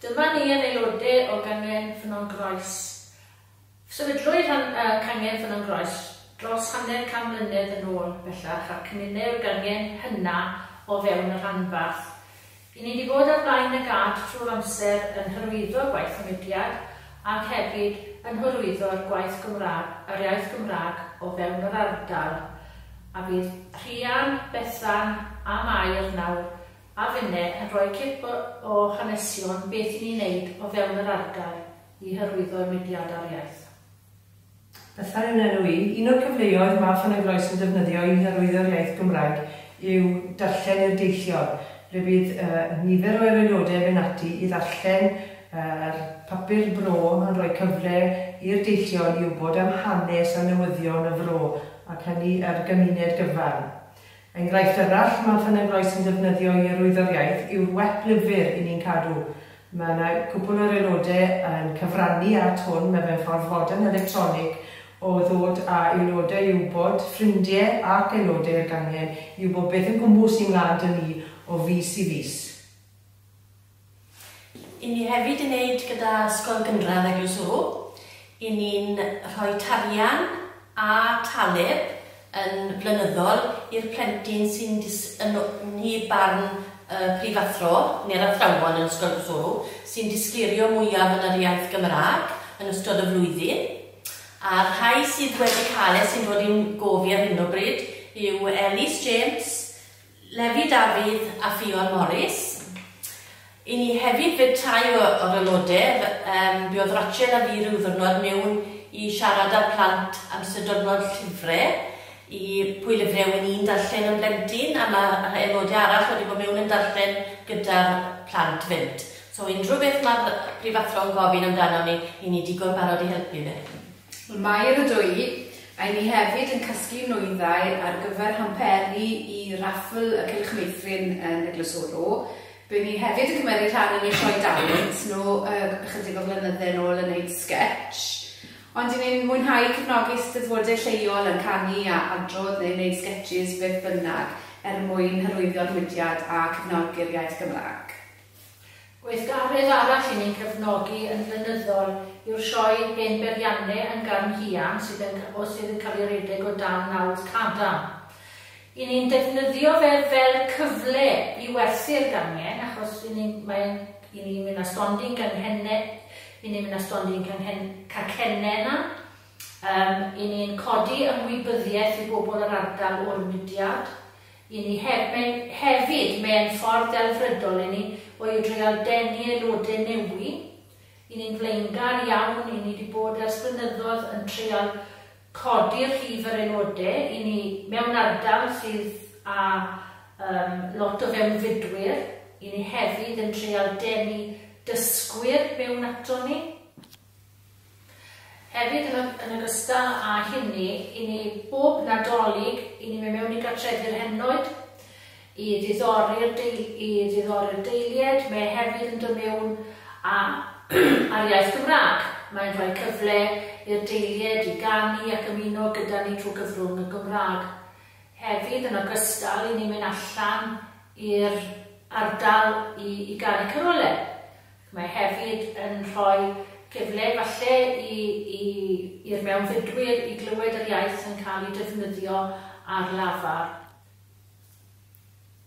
Dyma ni yn aelode o Gangen Ffynnon Groes. Sefydlwyd rhan y Cangen Ffynnon Groes dros hanner can mlynedd yn ôl bellach a'r cymunew'r gangen hynna o fewn y rhanbarth. I ni di bod ar flaen y gad trwy'r amser yn hyrwyddo gwaith y mudiad ac hefyd yn hyrwyddo'r gwaith Gymraeg, yr iaith Gymraeg o fewn yr ardal a bydd Rhian, Bethan a Mair nawr a finne yn rhoi cip o hanesion beth i ni wneud o fewn yr ardal i hyrwyddo'r mudiad a'r iaith. Bethau yn enw i. Un o'r cyfleoedd mae Ffynnon Groes yn defnyddio i hyrwyddo'r iaith Gymraeg yw darllen i'r deithiwr, ble bydd nifer o yr aelodau yn mynd ati i ddarllen yr papur bro yn rhoi cyfle i'r deithiwr i wybod am hanes a newyddion y fro ac hynny yr gymuned gyfan. Enghraifft arall mae Ffynnon Rois yn defnyddio i arwyddo'r iaith yw'r wep lyfr 'Y Ni'n Cadw'. Mae yna gwpwl o'r aelodau yn cyfrannu at hwn, mae fe'n ffordd fodern electronig o ddod â aelodau i wybod, ffrindie ac aelodau i'r gangen, i wybod beth yn gwmws sy'n mlan 'da ni o fis i fis. Yn ni hefyd yn neud gyda Ysgol Gynradd Eglwys Ŵr, yn ni'n rhoi tarian a taleb yn flynyddol i'r plentyn sy'n dys- yn o- nhy barn y prifathro neu'r athrawon yn Ysgol Eglwys Ŵr sy'n disgleirio mwyaf yn yr iaith Gymraeg yn ystod y flwyddyn. A'r rhai sydd wedi cael e sy'n dod i'n gof i ar hyn o bryd yw Elis James, Levi Dafydd a Ffion Morris. I ni hefyd fydd tai o, o'r aelodedd. Um, mi oedd Rachel a fi rhyw ddwrnod mewn i siarad â'r plant am sut dyrnod llyfre i pwy lyfre yw'n i'n darllen yn blentyn a mae aelodau arall wedi bod mewn yn darllen gyda'r plant fynt. So unrhyw beth mae'r prifathro'n gofyn amdano ni, i ni digon barod i helpu fe. Y Mair y Dwy, ry' ni hefyd yn casglu nwyddau ar gyfer hamperi i raffl y Cylch Meithrin yn Eglwys Oro. By' ni hefyd yn cymeru rhan yn y Sioe Dalent, nhw yy ychydig o flynydde nôl yn neud sgetsh. Ond i ni'n mwynhau cefnogi Eisteddfode lleol yn canu a adrodd neu neud sgetshis beth bynnag er mwyn hyrwyddo'r mudiad a cefnogi'r iaith Gymraeg. Gweithgaredd arall i ni'n cefnogi yn flynyddol yw'r Sioe Hen Beirianne yn Garn Hiarn sydd yn ca- o sydd yn cael ei redeg o dan nawdd cadarn. I ni'n defnyddio fe fel cyfle i werthu'r gangen achos i ni'n mae e'n i ni'n mynd â stondin ganghenne i ni'n mynd â stondin canghen- cacenne 'na yym i ni'n codi ymwybyddiaeth i bobl yr ardal o'r mudiad. I ni hefyd, mae e'n ffordd delfrydol i ni oedreal denu aelodau newi. I ni'n flaengar iawn, i ni 'di bod ers blynyddodd yn treial codi rhif yr aelodau, i ni mewn ardal sydd â yym lot o fewnfudwyr, i ni hefyd yn treial denu dysgwyr mewn ato ni. Hefyd, yn ogystal â hynny, i ni bob Nadolig, i ni mynd mewn i gartrefi'r henoed, i ddiddori'r deilied, mae e hefyd yn dod mewn â'r iaith Gymraeg. Mae'n rhoi cyfle i'r deilied i ganu ac ymuno gyda ni trwy gyfrwng y Gymraeg. Hefyd, yn ogystal, i ni mynd allan i'r ardal i ganu carolau. Mae hefyd yn rhoi cyfle efallai i i i'r mewnfudwyr i glywed yr iaith yn cael ei defnyddio ar lafar.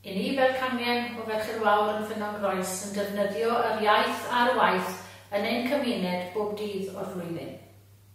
I ni fel cangen o Ferched Wawr yn Ffynnon Groes yn defnyddio yr iaith ar waith yn ein cymuned bob dydd o'r flwyddyn.